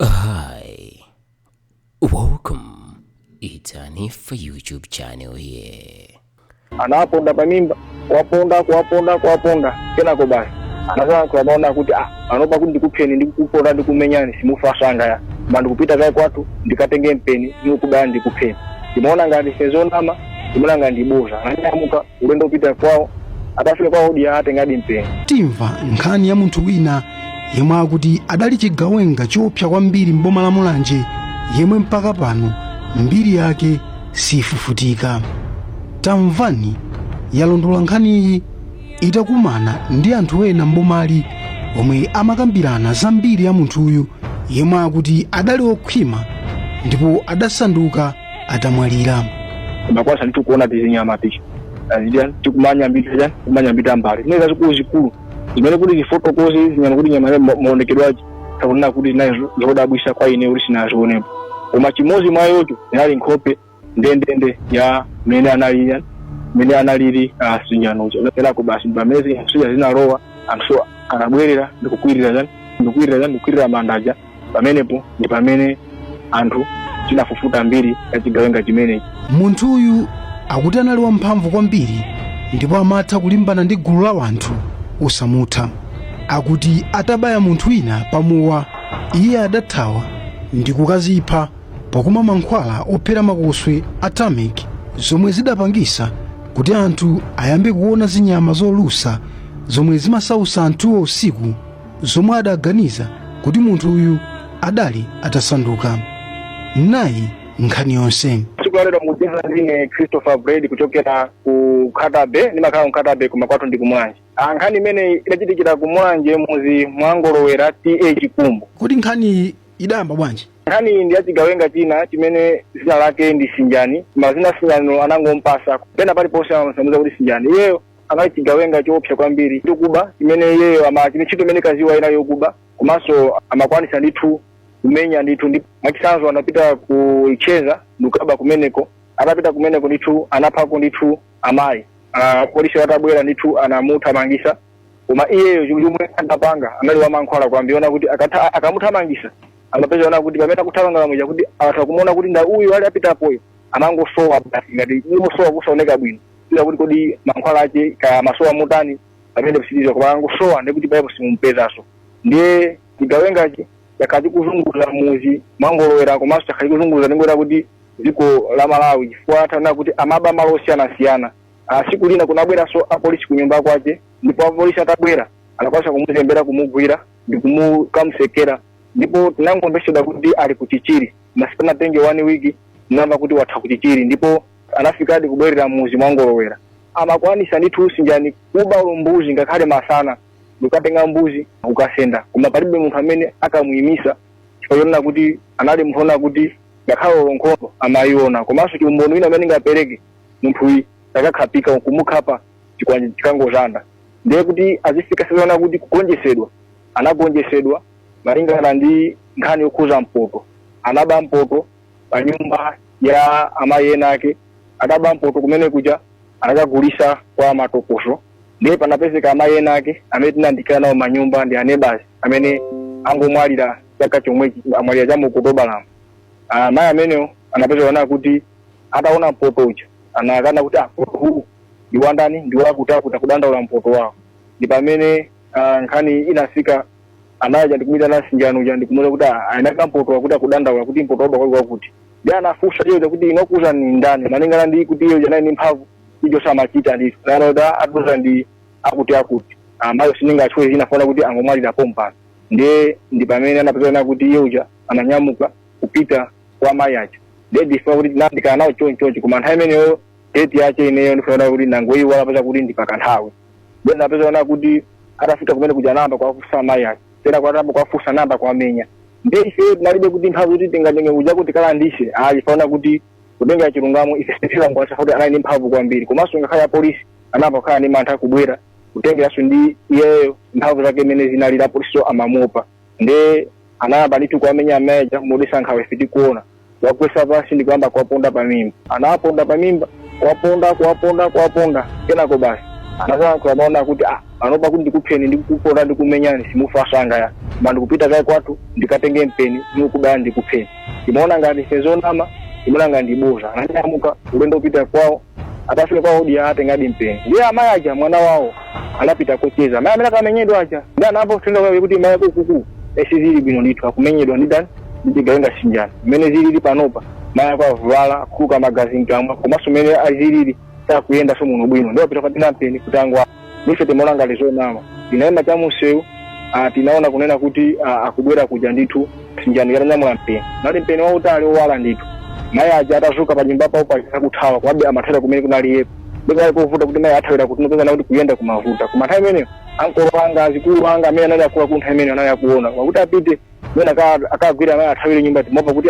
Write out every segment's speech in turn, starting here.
Hi, welcome. It's Anifa YouTube channel here. anawaponda pa mimba kuwaponda kuwaponda kuwaponda kenako basi anazanso amaona kuti ah anopa kuti ndikupheni ndikupondani ndikumenyani simufa nsanga iyayi ndikupita kaye kwathu ndikatenge mpeni ndikubaya ndikupheni ndimaona ngati nzonama ndimaona ngati ndi bodza ananyamuka ulendo upita kwawo atafika kwawo anatengadi mpeni timva nkhani ya munthu wina yemwe akuti adali chigawenga choopsa kwambiri m'boma la mulanje yemwe mpaka pano mbiri yake siifufutika Tamvani yalondola nkhaniyi itakumana ndi anthu ena m'bomali omwe amakambirana za mbiri ya munthuyu yemwe akuti adali okhwima ndipo adasanduka atamwalira makwasa ndikuona tizinyama tichi azidya tikumanya mbita ja kumanya mbita mbali zimene zazikulu zikulu imene kuti tifotokoze nyama kuti nyama ma- maonekedwe ace takuona kuti nazo zodabwisa kwa ine kuti sinazionepo koma chimozi mwa icho inali nkhope ndendende ya mmene anali mmene analili Sinjaniyo kenako basi pamene zija zinalowa anthu anabwerera ndikukwirira ndikukwirira ndikukwirira manda aja pamenepo ndi pamene anthu tinafufuza mbiri ya chigawenga chimenechi munthuyu akuti anali wamphamvu kwambiri ndipo amatha kulimbana ndi gulu la wanthu osamutha akuti atabaya munthu wina pa mowa iye adathawa ndi kukazipha pakumwa mankhwala ophera makoswe a temik zomwe zidapangisa kuti anthu ayambe kuona zinyama zolusa zomwe zimasautsa anthuwo usiku zomwe adaganiza kuti munthu uyu adali atasanduka nayi nkhani yonse tsiku lalero mukucheza ndi ine christopher bred kuchokera ku khatabe ndimakhala ku khatabe koma kwathu ndi ku Mulanje Ah, nkhani imeneyi idachitikira ku Mulanje muzi mwa Ngolowera TA Chikumbu kodi nkhani idayamba bwanji nkhani iyi ndi ya chigawenga china chimene zina lake ndi sinjani koma zina Sinjanilo anangompasa pena paliponse amamusanduza kuti sinjani iyeyo anali chigawenga choopsa kwambiri chokuba chimene iyeyo ama chimene ntchito imene ankaziwa inali yokuba komanso amakwanisa ndithu kumenya ndithu ndi mwachitsanzo anapita ku Luchenza ndikukaba kumeneko atapita kumeneko ndithu anaphako ndithu amayi Ah, polisi atabwera ndithu anamuthamangisa koma iyeyo chinthu chomwe anapanga anali wamankhwala kwambiri ona kuti akatha- akamuthamangisa amapezeka woti pamene akuthamanga muja kuti atha kumuona kuti ndi uyu ali apitapoyo amangosowa basi ngati imusowa kusaoneka bwino kudziwa kuti kodi mankhwala ache kaya amasowa motani pamene psiliza koma angosowa ndikuti paipo simumpezanso ndiye chigawengachi chakhala chikuzunguza mmuzi mwa ngolowera komanso chakhala chikuzunguza ndingoti kuti dziko la malawi chifukwa tana kuti amaba malo osiyanasiyana Ah, siku lina kunabweranso apolisi ku nyumba kwache ndipo apolisi atabwera anakwanisa kumuzembera kumugwira ndi kukamsekera ndipo tinangomvesedwa kuti ali ku chichiri pasanatenge one week tinamva kuti wathawa ku chichiri ndipo anafikadi kubwerera mmuzi mwa ngolowera amakwanisa ndithu sinjani kuba olo mbuzi ngakhale masana ndikukatenga mbuzi kukasenda koma palibe munthu amene akamuyimisa chifukwa chonena kuti anali munthu onena kuti ngakhale olo nkhondo amayiona komanso chiumboni wina amene ndingapereke munthuyi akakhapika kumukhapa chikwanje chikangozanda ndiye kuti azifika saizi yonena kuti kugonjesedwa anagonjesedwa malingana ndi nkhani yokhuza mpoto anaba mpoto pa nyumba ya amayi ena ake ataba mpoto kumene kuja anakagulisa kwa matokoso ndiye panapezeka amayi ena ake amene tinandikana nawo manyumba ndi anebasi amene angomwalira chaka chomwechi amwalira cha mu okutobalamu amayi amenewo anapezeka nawo kuti ataona mpoto uja anakana kuti mpoto uwu ndi wa ndani ndi wakuti akuti akudandaula mpoto wawo ndi pamene ah, nkhani inafika anaja ndikumuyitana sinjani uja ndikumuuza kuti "Ah, eni ake mpoto akuti akudandaula kuti mpoto waba kwakuti kwakuti nde anafunsa iyeyo kuti inu wakuuzani ndani malingana ndi kuti iye uja anali ndi mphamvu ijo samachita ndithu nayana kuti "Ah, atiuza ndi akuti akuti amayiwo sindingawatchule dzina chifukwa kuti angomwalira pompano ndiye ndi pamene anapezana kuti iye uja ananyamuka kupita kwa mayi aja ndiye ndifuna kuti tinandikana nawo chonchonchi koma nthawi imeneyo date yache ineyo ndifanira kuti nangoiwala popeza kuti ndi pakanthawi nde anapezana kuti atafika kumene kuja anayamba kuwafusa mai ake tena kwa anayamba kuwafusa anayamba kuwamenya nde ife tinalibe kuti mphamvu kuti tingatenge kuja kuti tikalandise ayi faona kuti kutengera chilungamo ife sitilangoasa kuti anali ndi mphamvu kwambiri komanso ngakhale apolisi anayamba kukhala ndi mantha kubwera kutengeranso ndi iyeyo mphamvu zake imene zinalili apolisiwo amamuopa nde anayamba ndithu kuwamenya amayi aja modesa nkhawa ife tikuona wawagwesa pansi ndi kuyamba kuwaponda pa mimba anawaponda pa mimba kuwaponda kuwaponda kuwaponda kenako basi anasankhula mau onena kuti ah, panopa kuti ndikupheni ndikuponda ndikumenyani simufa msanga ayi koma ndikupita kaye kwathu ndikatenge mpeni ndikubaya ndikupheni timaona ngati ife zonama timaona ngati ndiboza ananyamuka ulendo opita kwawo atafika kwawodi anatengadi mpeni ndiye amayi aja mwana wawo anapita kocheza amayi amene akamenyedwa aja nde anamva uthenga kwawo kuti mayi ako ukuku sizili bwino ndithu akumenyedwa ndi ndani ndi chigawenga sinjani mmene zilili panopa mayi ako avulala akutuluka magazi mkamwa komanso mmene azilili sakuyenda so muno bwino ndiye apita kukatenga mpeni kuti angwa nife timaona ngati zonama tinaima cha mumsewu ah, tinaona kunena kuti ah, akubwera kuja ndithu sinjani atanyamula mpeni nati mpeni wautali owala ndithu mayi aja atazuka pa nyumba pawo paja akuthawa komabe amathawira kumene kunali iye panali povuta kuti mayi athawira kuti popeza kuti kuyenda kumavuta koma nthawi imeneyo ankolo anga azikulu anga amene anali akuluakulu nthawi imeneyo anali akuona kwakuti apite mwina aka- akagwira amayi athawire m'nyumba timaopa kuti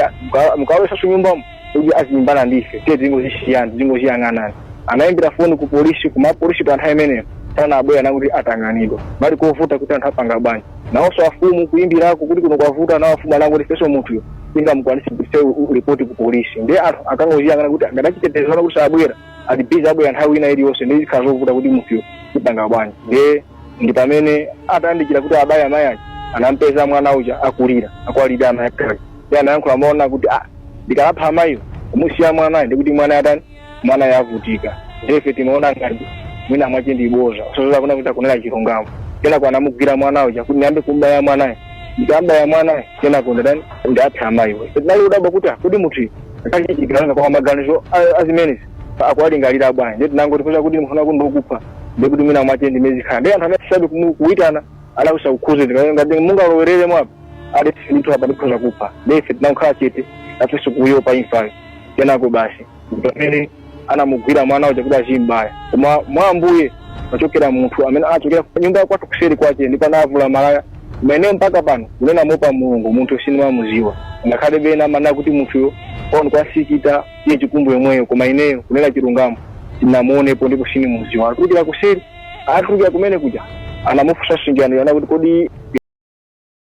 mukalowesanso nyumbamo kuti azilimbana ndife tiye tingozisiyani tingoziyang'anani anaimbira foni ku polisi koma apolisi pa nthawi imeneyo sanabwere akuti atanganidwa kunali kovuta kuti anthu apanga bwanji nawonso afumu kuimbirako kuti kuno kwavuta nawo afumu anangoti ifeso munthuyo sitingamukwanise kupitisa ripoti ku polisi ndiye anthu ankangoziyang'ana kuti a zachitetezo akuti sabwera ali bizi abwera nthawi ina iliyonse nde zikhala zovuta kuti munthuyo tipanga bwanji ndiye ndi pamene atayandikira kuti abaye amayi aja anampeza mwana uja akulira akuwalira amayi ake ndiye anayankhula mawu onena kuti ah ndikawapha amayiwo kumusiya mwanayo ndikuti mwanayo atani mwanayo avutika ndife timaona ngati mwina mwache ndi boza osaziwa kunena kuti akunena chilungamo kenako anamugwira mwana uja kuti ndiyambe kumbaya mwanayo ndikambaya mwanayo kenako nditani ndiwapha amayiwo tinali kudabwa kuti ah, kuti munthu akachitikirana kwa maganizo a- azimenezi akuwalingalira bwanji ndiye tinangoti kuza kuti mufuna kuti ndikupha ndiye kuti mwina mwache ndi mmene zikhala ndiye anthu amene tisadi kumu- kuitana alakusa kukhuze ngati mungalowerere mwapo ade ndithu apa ndikhoza kupha ndiye ife tinangokhala chete nafenso kuopa imfayo kenako basi pamene anamugwira mwana uja kuti azimbaya koma mwa ambuye panachokera munthu amene anachokera ku nyumba kwathu kuseri kwache ndipo anavula malaya ameneyo mpaka pano kunena moopa mulungu munthu sinimamuziwa ngakhale ena amanena kuti munthuyo on kwasikita iye chikumbu yomweyo koma ineyo kunena chilungamo sindinamuonepo ndipo sinimuziwa atulukira kuseri atulukira kumene kuja anamufunsa sinjani ananena kuti kodi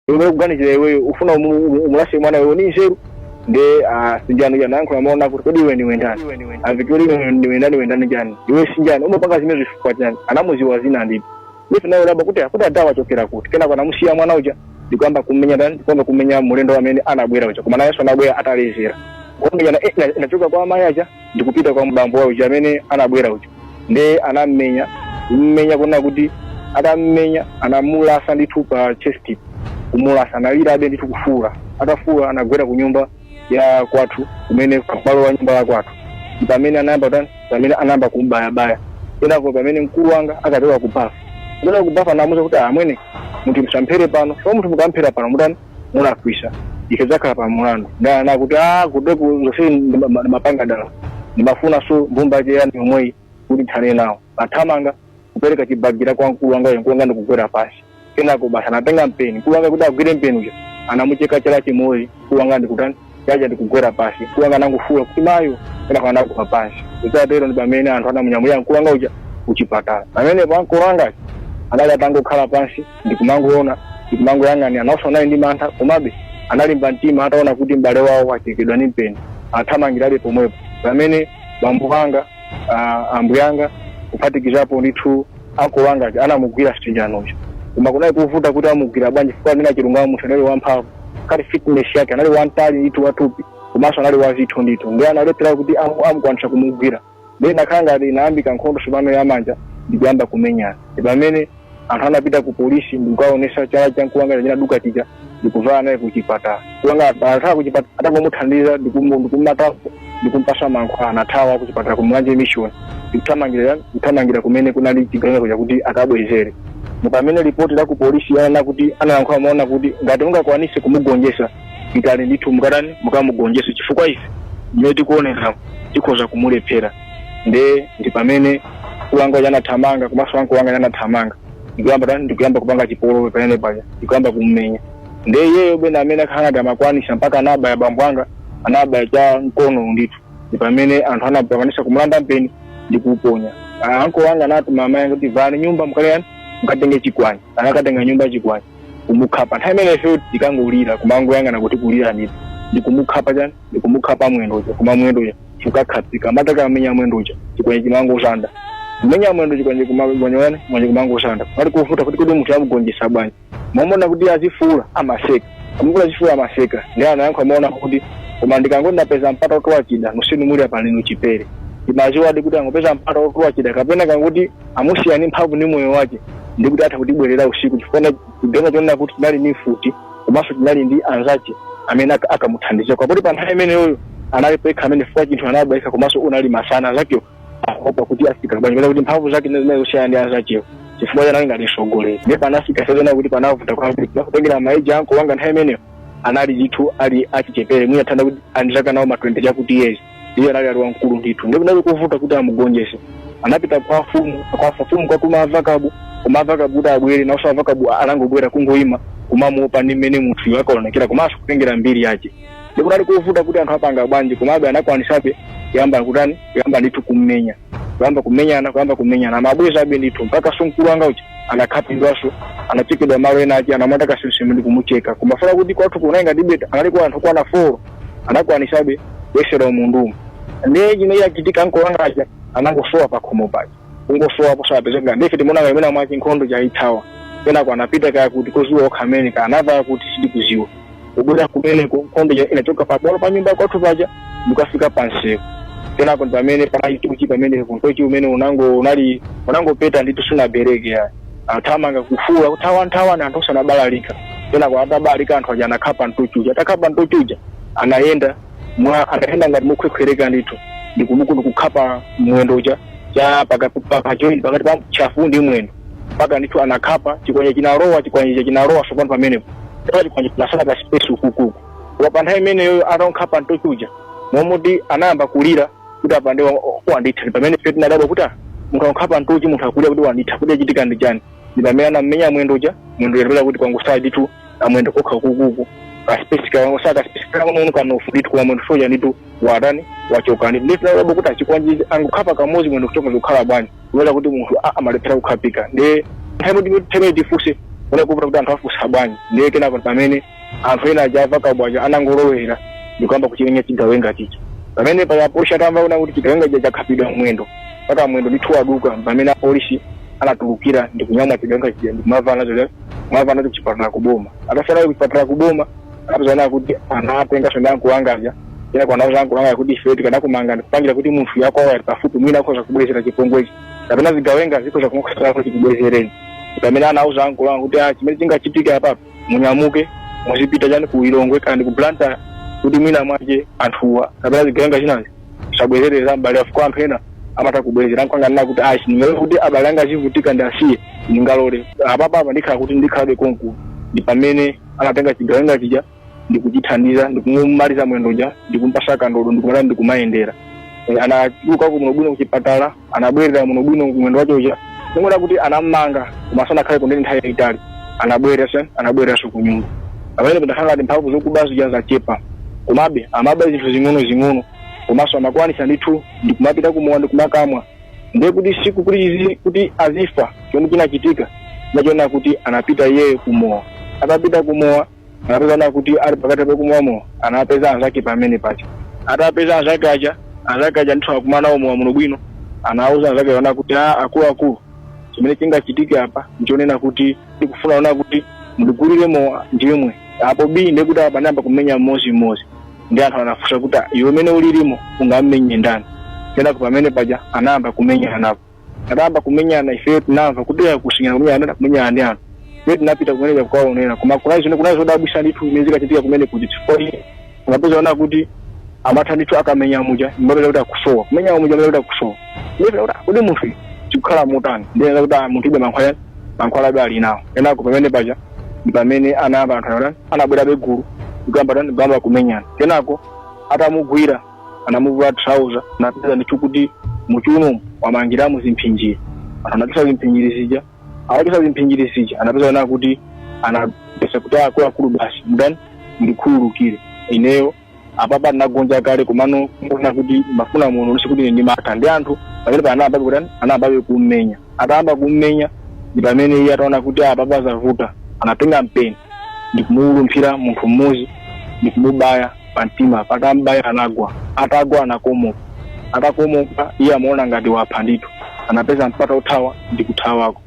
iwe ukuganizira iweyo ufuna umu- umu- umulase mwanayo ni nzeru nde ah, sinjani uja anayankhula mawu onena kuti kodi iwe niwe ndani avitoli niwe ndani iwe ndani jani iwe sinjani umapanga zimenezi chifukwa chani anamuziwa zina ndipo ife nafe kudabwa kuti akuti adhawa achokera kuti kenako anamusiya mwana uja ndikuyamba kumenya ndani ndikuyamba kumenya mulendo amene anabwera uja koma nayenso anabwera atalezera kumenyana eh, ina- inachoka kwa amayi aja ndikupita kwa bambo uja amene anabwera uja nde anammenya kummenya kunena kuti atammenya anamulasa ndithu pa chest kumulasa analirabe ndithu kufuula atafuula anagwera ku nyumba ya kwathu kumene pabwalo la nyumba ya kwathu ndi pamene anayamba kutani pamene anayamba kumbayabaya kenako pamene mkulu wanga ankachoka ku bafa kuchoka ku bafa anamuza kuti amwene munthu musamphere pano so munthu mukamphera pano mutani mulakwisa ife tizakhala pa mulandu nde ananena kuti a kuteku zose ndi ma- ma- mapanga dala ndimafunaso mbumba yake yani yomweyi kuti ndithane nawo athamanga kupereka chibagira kwa mkulu wanga uyu mkulu wanga ndikugwera pasi kenako basi anatenga mpeni mkulu wanga kuti agwire mpeni uja anamucheka chala chimodzi mkulu wanga ndikutani yaja ndikugwera pasi mkulu wanga anangofuula kuti mayo kenako anagwa pasi kutatero ndi pamene anthu anamunyamulira mkulu wanga uja kuchipatala pamenepo mkulu wanga anali atangokhala pansi ndikumangoona ndikumangoyang'anira nawonso anali ndi mantha komabe analimba mtima ataona kuti m'bale wawo wachekedwa ndi mpeni athamangirabe pomwepo pamene bambo wanga ah, ambuyanga kuphatikizapo ndithu anko wanga aja anamugwira Sitijano koma kunali kuvuta kuti amugwira bwanji chifukwa kunena chilungamo munthu anali wamphamvu kaya fitness yake anali wamtali ndithu watupi komanso anali wazitho ndithu ndiye analephera kuti amu- amukwanitsa kumugwira ndiye inakhala ngati inayambika nkhondo sopano yamanja ndikuyamba kumenyana ndi pamene anthu anapita ku polisi ndikukaonesa chala cha mkulu wanga chinaduka chija ndikuvala naye kuchipatala mkulu wanga athaa kuchipatala atangomuthandiza ndikumu- ndikumatapo ndikumpasa mankhwala anathawa kuchipatala kumulanje mission ndikuthamangira ndikuthamangira kumene kunali chigawenga kuja kuti akabwezere Ndipo pamene lipoti la ku polisi likunena kuti analankhula mawu onena kuti ngati mungakwanise kumugonjesa pitani ndithu mukatani mukamugonjese chifukwa ife mmene tikuonekera tikhoza kumulephera nde ndi pamene mkulu wanga uja anathamanga komanso anko anga aja anathamanga ndikuyamba tani ndikuyamba kupanga chipolowe pamene paja ndikuyamba kummenya nde iyeyo bwene amene akakhala ngati amakwanisa mpaka anabaya bambo anga anabaya cha m'nkono ndithu ndi pamene anthu anamukwanisa kumulanda mpeni ndi kuuponya Ah, anko wanga anatuma amayi kuti lowani m'nyumba mkaleyani mukatenge chikwanje anakatenga m'nyumba chikwanje kumukhapa nthawi imeneyo tikangolira kumangoyang'ana kuti kulira ndithu ndi kumukhapa chikwanje ndikumukhapa mwendo uja koma mwendo uja chikakhatsika mataka amenya mwendo uja chikwanje chimangonjanja kumenya mwendo chikwanje kumangonjanja chikwanje kumangonjanja panali kuvuta kuti kodi munthu amugonjesa bwanji mwamona kuti azifuula amaseka amukula azifuula amaseka ndiye anayankhula mawu onena kuti koma ndikangoti ndapeza mpata otola chida nonsenu muli apa lino ndiphera amaziwadi kuti akangopeza mpata otola chida kapena akangoti amusiye ndi mphamvu ni moyo wake ndikuti atha kudzabwerera usiku chifukwa chigawenga chonena kuti chinali ni mfuti komanso chinali ndi anzace amene aka- akamuthandiza poti pa nthawi imeneyoyo anali yekha amene fukwa chinthu anabweka komanso unali masana anzacewo akaopa kuti afika bwanji kuti mphamvu zake zimene zinali zosiyana ndi anzacewo chifukwa chanali ngati msogoleri ndipo panafika ponena kuti panavuta kwambiri kutengera ma age anko wanga nthawi imeneyo anali ndithu ali achichepere mwina ndithanso kuti anali ndi zaka zawo ma 20 chakuti years iye anali ali wamkulu ndithu ndipo kunali kuvuta kuti amugonjese anapita kwa afumu kwa afumu kukatuma avakabu koma avakabu kuti abwere naonso avakabu anangobwera kungoima kumamuopa ndi mmene munthuyo akaonekera komanso kutengera mbiri yake ndipo kunali kuvuta kuti anthu apanga bwanji komabe anakwanisabe kuyamba kutani kuyamba ndithu kummenya kuyamba kumenyana kuyamba kumenyana amabwezabe ndithu mpaka mkulu wanga uja anakhapidwanso anachekedwa malo ena ake anamata kasemasema ndi kumucheka kumafuna kuti kwathu kunayi ngati beta anali kwa anthu kwana foro anakwanisabe kuyesera umunthu ndiye chimene chachitika mkulu wanga aja anangosowa pakhomo paja kungosowa posapezeka ndiye ife timaona ngati mwina mwake nkhondo yatha kenako anapita kaya kuti koziwa okha mmene anava kuti sindikuziwa kubwera kumeneko nkhondo ija inachoka pa bwalo pa nyumba yakwathu paja nkukafika pansewu kenako ndi pamene panali nthochi pamenepo nthochi umene unango unali unangopeta ndithu sunabereke akuthamanga kufuula kuthawa nthawi imene anthu asanabalalike kenako atabalalika anthu aja anakhapa nthochi uja atakhapa nthochi uja anayenda mwa anayenda ngati mokhwekhwereka ndithu ndikumuku ndikukhapa mwendo uja cha paka- pa- pa joint pakati pa chafu ndi mwendo mpaka ndithu anakhapa chikwanje chinalowa chikwanje icho chinalowa tsopano pamenepo pa chikwanje chinasala ka space ukukuku koma pa nthawi imeneyo atakhapa nthochi uja momuti anayamba kulira kuti apa ndiye wanditha ndi pamene ife tinadabwa kuti ah, munthu wakhapa nthochi munthu akulira kuti wanditha kuti chachitika ndi chani ndi pamene anamenya mwendo uja mwendo atapeza kuti kwangosala ndithu amwendo kokha ukukuku kaspesi kangosala kaspesi kang'ono kamnofu ndithu koma mwendonso uja ndithu watani wachoka ndithu ndithu tinadabwa kuti ah chikwanje angokhapa kamodzi mwendo kuchoka zikukhala bwanji kubwera kuti munthu a- amalephera kukhapika ndiye nthawi imene timene timene tifunse zonena kuti anthu afunsa bwanji ndiye kenako pamene anthu ena aja anamva kabwaja anangolowera ndikuyamba kuchimenya chigawenga chija pamene paja apolisi atamva zonena kuti chigawenga chija chakhapidwa mwendo mpaka mwendo ndithu waduka pamene apolisi anatulukira ndikunyamula chigawenga chija ndikumava nacho kumava nacho kuchipatala kuboma atasiya nacho kuchipatala kuboma anapezana kuti anatenga shonda mkulu wanga uja kenako anauza mkulu wanga uja kuti ife tikanakumanga ndikupangira kuti munthuyu akakhala pafupi mwina akhoza kubwezera chipongwechi kapena zigawenga zikhoza kumukhosa kuti zikubwezereni pamene anauza mkulu wanga kuti ah, chimene chingachitike apa munyamuke muzipita chani ku lilongwe kaya ndi ku blantyre kuti mwina mwake anthuwa kapena zigawenga zinazi sizibwezerera mbali afuko anthu ena amatha kubwezera mkulu wanga ananena kuti ayi sindingalole kuti abale anga azivutika ndiwasiye sindingalole apapa apa ndikhala kuti ndikhalabe konkuno ndi pamene anatenga chigawenga chija ndikuchithandiza ndikumumaliza mwendo uja ndikumpasa kandodo ndikumala ndikumayendera e, anatuluka muno bwino kuchipatala anabwerera muno bwino koma mwendo wachoka uja ndikunena kuti anamanga koma sanakhale kundeni nthawi yaitali anabwerera sen anabwereranso kunyumba pamene panakhala ngati mphamvu zokuba zija zachepa komabe amaba zinthu zing'ono zing'ono komanso amakwanisa ndithu ndikumapita kumowa ndikumakamwa ndiye tsiku loti izi- kuti azifa chomwe chinachitika nchonena kuti anapita iye kumowa atapita kumowa anapezana kuti ali pakati pakumwa mowa anapeza anzake pamene paja atapeza anzake aja anzake aja ndithu akumwa mowa muno bwino anauza anzake zonena kuti a akuluakulu chimene chingachitike apa ndichonena kuti ndikufuna zonena kuti mundigulire mowa ndimwe apo bii ndekuti apa ndiyamba kumenya mmodzi mmodzi ndi anthu anafunsa kuti "Ah, iwe mmene ulilimo ungammenye ndani kenako pamene paja anayamba kumenyana napo anayamba kumenyana ifeyo tinamva kuti ya kusinyana kumenyana anada kumenyana ndi anthu ife tinapita kumene kuja kukaonera koma kunali zino kunali zodabwisa ndithu zimene zinkachitika kumene kuti chifukwa unapeza ona kuti amatha ndithu akamenya muja mbabela kuti akusowa kumenya muja mbabela kuti akusowa ndipita kuti "Ah, kodi munthu uyu zikukhala motani ndiye ena kuti "Ah, munthu ibe mankhwala mankhwalabe ali nawo kenako pamene paja ndi pamene anayamba anthu anati anabwerabe gulu nkuyamba kutani nkuyamba kumenyana kenako atamugwira anamuvula trouser anapeza ndithu kuti mchiuno wamangiramo zimphinjiri anthu anachosa zimphinjiri zija atachosa zimphinjiri zija anapezana kuti anapepesa kuti akuluakulu basi mtani ndikhululukire ineyo apapa ndinagonja kale komano ndikuona kuti ndimafuna muno ndisi kuti ndimatha ndi anthu pamene paja anayambabe kutani anayambabe kummenya atayamba kummenya ndi pamene iye ataona kuti apapa zavuta anatenga mpeni ndikumulumphira munthu mmodzi ndikumubaya pa mtima atambaya anagwa atagwa anakomoka atakomoka iye amaona ngati wapha ndithu anapeza mpata othawa ndikuthawako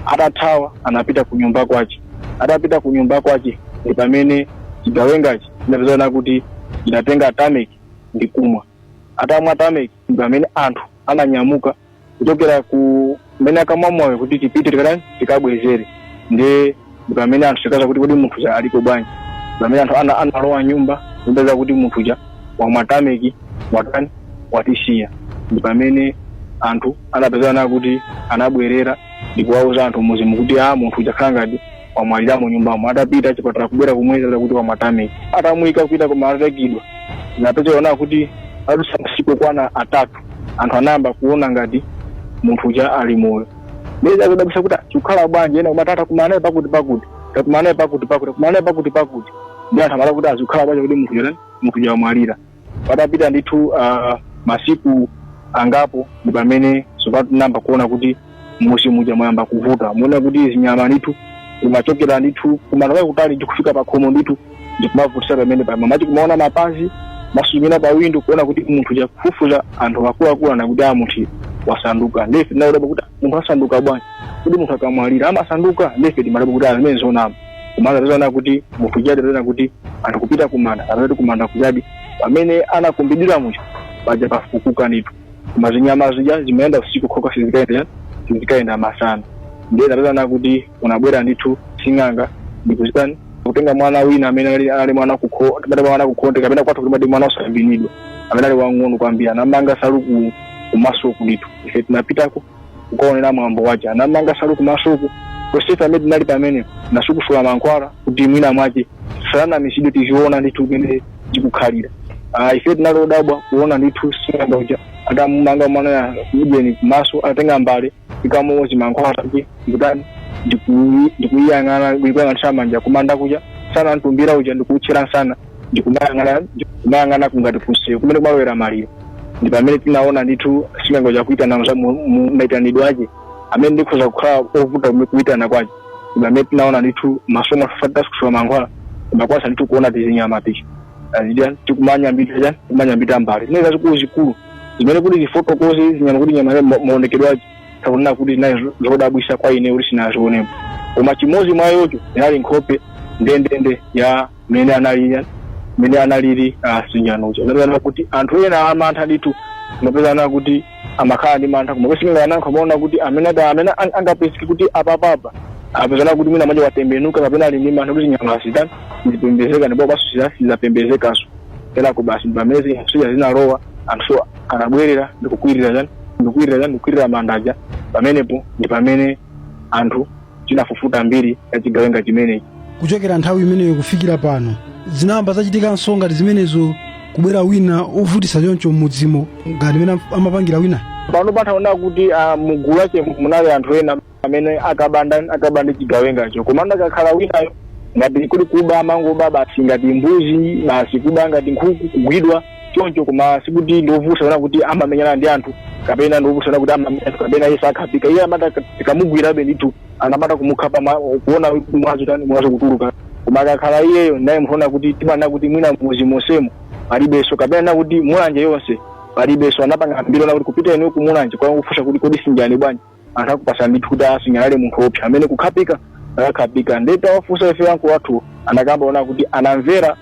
atathawa anapita ku nyumba kwace atapita ku nyumba kwace ndi pamene cigawengaci cinapezana kuti cinatenga tameki ndi kumwa atamwa tameki ndi pamene anthu ananyamuka kuchokera kumene ankamwa mowawo kuti tipite tikatani tikabwezere nde ndi pamene anthu chikaza kuti kodi munthu uja aliko bwanji pamene anthu ana- analowa m'nyumba kupeza kuti munthu uja wamwa tameki watani watisiya ndi pamene anthu anapezana kuti anabwerera ndi kuwauza anthu m'muzimu kuti a munthu uja akukhala ngati wamwalira mu nyumbamo atapita achipatala kubwera kumuyeza kuti wamwa tameki atamuyika kupita kumanda ataikidwa anapezaona kuti patadusa masiku okwana atatu anthu anayamba kuona ngati munthu uja ali moyo Ndiye zakudabwisa kuti zikukhala bwanji ena kumati takumana naye pakuti pakuti. Takumana naye pakuti pakuti. Takumana naye pakuti pakuti. Ndi anthu amala kuti a zikukhala bwanji kuti munthu yona munthu uja wamwalira. Patapita ndithu ah, masiku angapo ndi pamene sopano tinayamba kuona kuti mmuzi muja mwayamba kuvuta. Muona kuti zinyama ndithu kumachokera ndithu kumalo akutali ndikufika pakhomo ndithu ndikumavutisa pamene pamwe mati kumaona mapazi amasuzumira pa window kuona kuti munthu uja kufufuza anthu akuluakulu ana kuti a munthu wasanduka nde ife tinadabwa kuti munthu asanduka bwanji kuti munthu akamwalira amasanduka nde ife timadabwa kuti zimenezo nzonama komano atazaona kuti munthu ujadi ataona kuti anthu kupita kumanda atati kumanda kujadi pamene anakumbidira munthu paja pafukuka ndithu koma zinyama zija zimayenda usiku okhaokha sizikaenda sizikaenda masana ndiye atazaona kuti unabwera ndithu sing'anga ndikuzitani akutenga mwana wina amene anali- anali mwana kukho- amene mwana kukhonde kapena kwathu kulimadi mwana osambinidwa amene ali wang'ono kwambiri anamanga nsalu ku- kumasoku ndithu ife tinapitako kukaonera mwambo wace anamanga nsalu kumasoku tonsefe amene tinali pamene anasukusula mankhwala kuti mwina mwace sanamisidwe tiziona ndithu mmene tikukhalira Ah, ife tinali odabwa kuona ndithu sing'anga uja atamumanga mwana ya ujeni kumaso atatenga mbale ikamuwo chimankhwala kuti ndikutani ndikuyi- ndikuyiyang'ana ndikuyang'anisa manja kumanda kuja nsana mtumbira uja ndikuutchira nsana ndikumayang'ana ndikumayang'ana kungati kunseyo kumene kumalowera maliro ndi pamene tinaona ndithu sing'anga uja akuitana za mu- mu- maitanidwe ache amene ndikhoza kukhala ovuta kume- kuitana kwache ndi pamene tinaona ndithu masomo atasukusula mankhwala kumakwasa ndithu kuona tizinyama tija tazidya tikumanyambita chani tikumanyambita mbale zimene zazikulu zikulu zimene kuti zifotokoze zinyama kuti nyama ma- maonekedwe ace takuona kuti zinayi zo- zodabwisa kwa ine kuti sinazionepo koma chimodzi mwa yocho inali nkhope ndendende ya amene anali mene analili sinjanocho nkupezana kuti anthu ena amantha ndithu mapezana kuti amakhala ndi mantha koma kusinga anankho amaona kuti amene ada- amene an- angapezeke kuti apapapa apezana kuti mwina manja watembenuka kapena ali ndi mantha kuti zinyama zija sizipembedzeka ndipo baso sizapembedzekanso kenako basi pamene zija zinalowa anthu anabwerera ndikukwirira chani ndikukwirira chani ndikukwirira manda aja pamenepo ndi pamene anthu tinafufuta mbiri ya chigawenga chimenechi kuchokera nthawi imeneyo kufikira pano sizinayambe zachitikanso ngati zimenezo kubwera wina ovutitsa choncho m'mudzimo ngati mmene amapangira wina pano podaona kuti ah, mugulu lache munali anthu ena amene akabanda akabanda chigawengacho koma akakhala enawo ngati kuli kuba amangoba basi ngati mbuzi basi kuba ngati nkhuku kugwidwa choncho koma sikuti ndi ovuta ona kuti amamenyana ndi anthu kapena ndi ovuta ona kuti amamenya anthu kapena iye sakhapika iye amatha tikamugwirabe ndithu amatha kumukhapa ma- kuona kuti mwazi chani mwazi kutuluka koma akakhala iyeyo naye mphona kuti timana kuti mwina m'mudzi monsemo palibenso kapena na kuti mulanje yonse palibenso anapanga mbiri yoti kupita inuyo kumulanje kwa kufunsa kuti kodi sinjani bwanji anthu akuuzani ndithu kuti Sinjani anali munthu woopsa amene sakukhapika akakhapika nde titawafunsa ife anganga athu anakamba ona kuti anamvera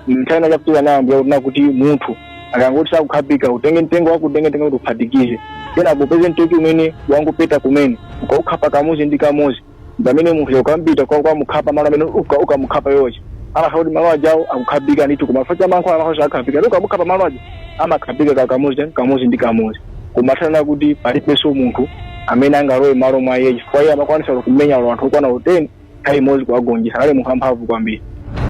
nthani achapitira nayo ndiye kuti kuti munthu akangoti sakukhapika utenge mtengo wake utenge mtengo kuti uphatikize kenako upeze nthochi imene wangopeza kumene ukaukhapa kamodzi ndi kamodzi pamene munthuyo ukapita kwa kukamukhapa malo amene uka ukamukhapawo nde amakhala kuti malo ajawo akukhapika ndithu koma chifukwa cha mankhwala amakhala akhapika ndi ukamukhapa malo aja amakhapika ka kamodzi chani kamodzi ndi kamodzi koma taona kuti palibenso munthu amene angalowe malo mwa iye chifukwa iye amakwanitsa kumenya olo anthu okwana teni nthawi imodzi kuwagonjetsa anali munthu amphamvu kwambiri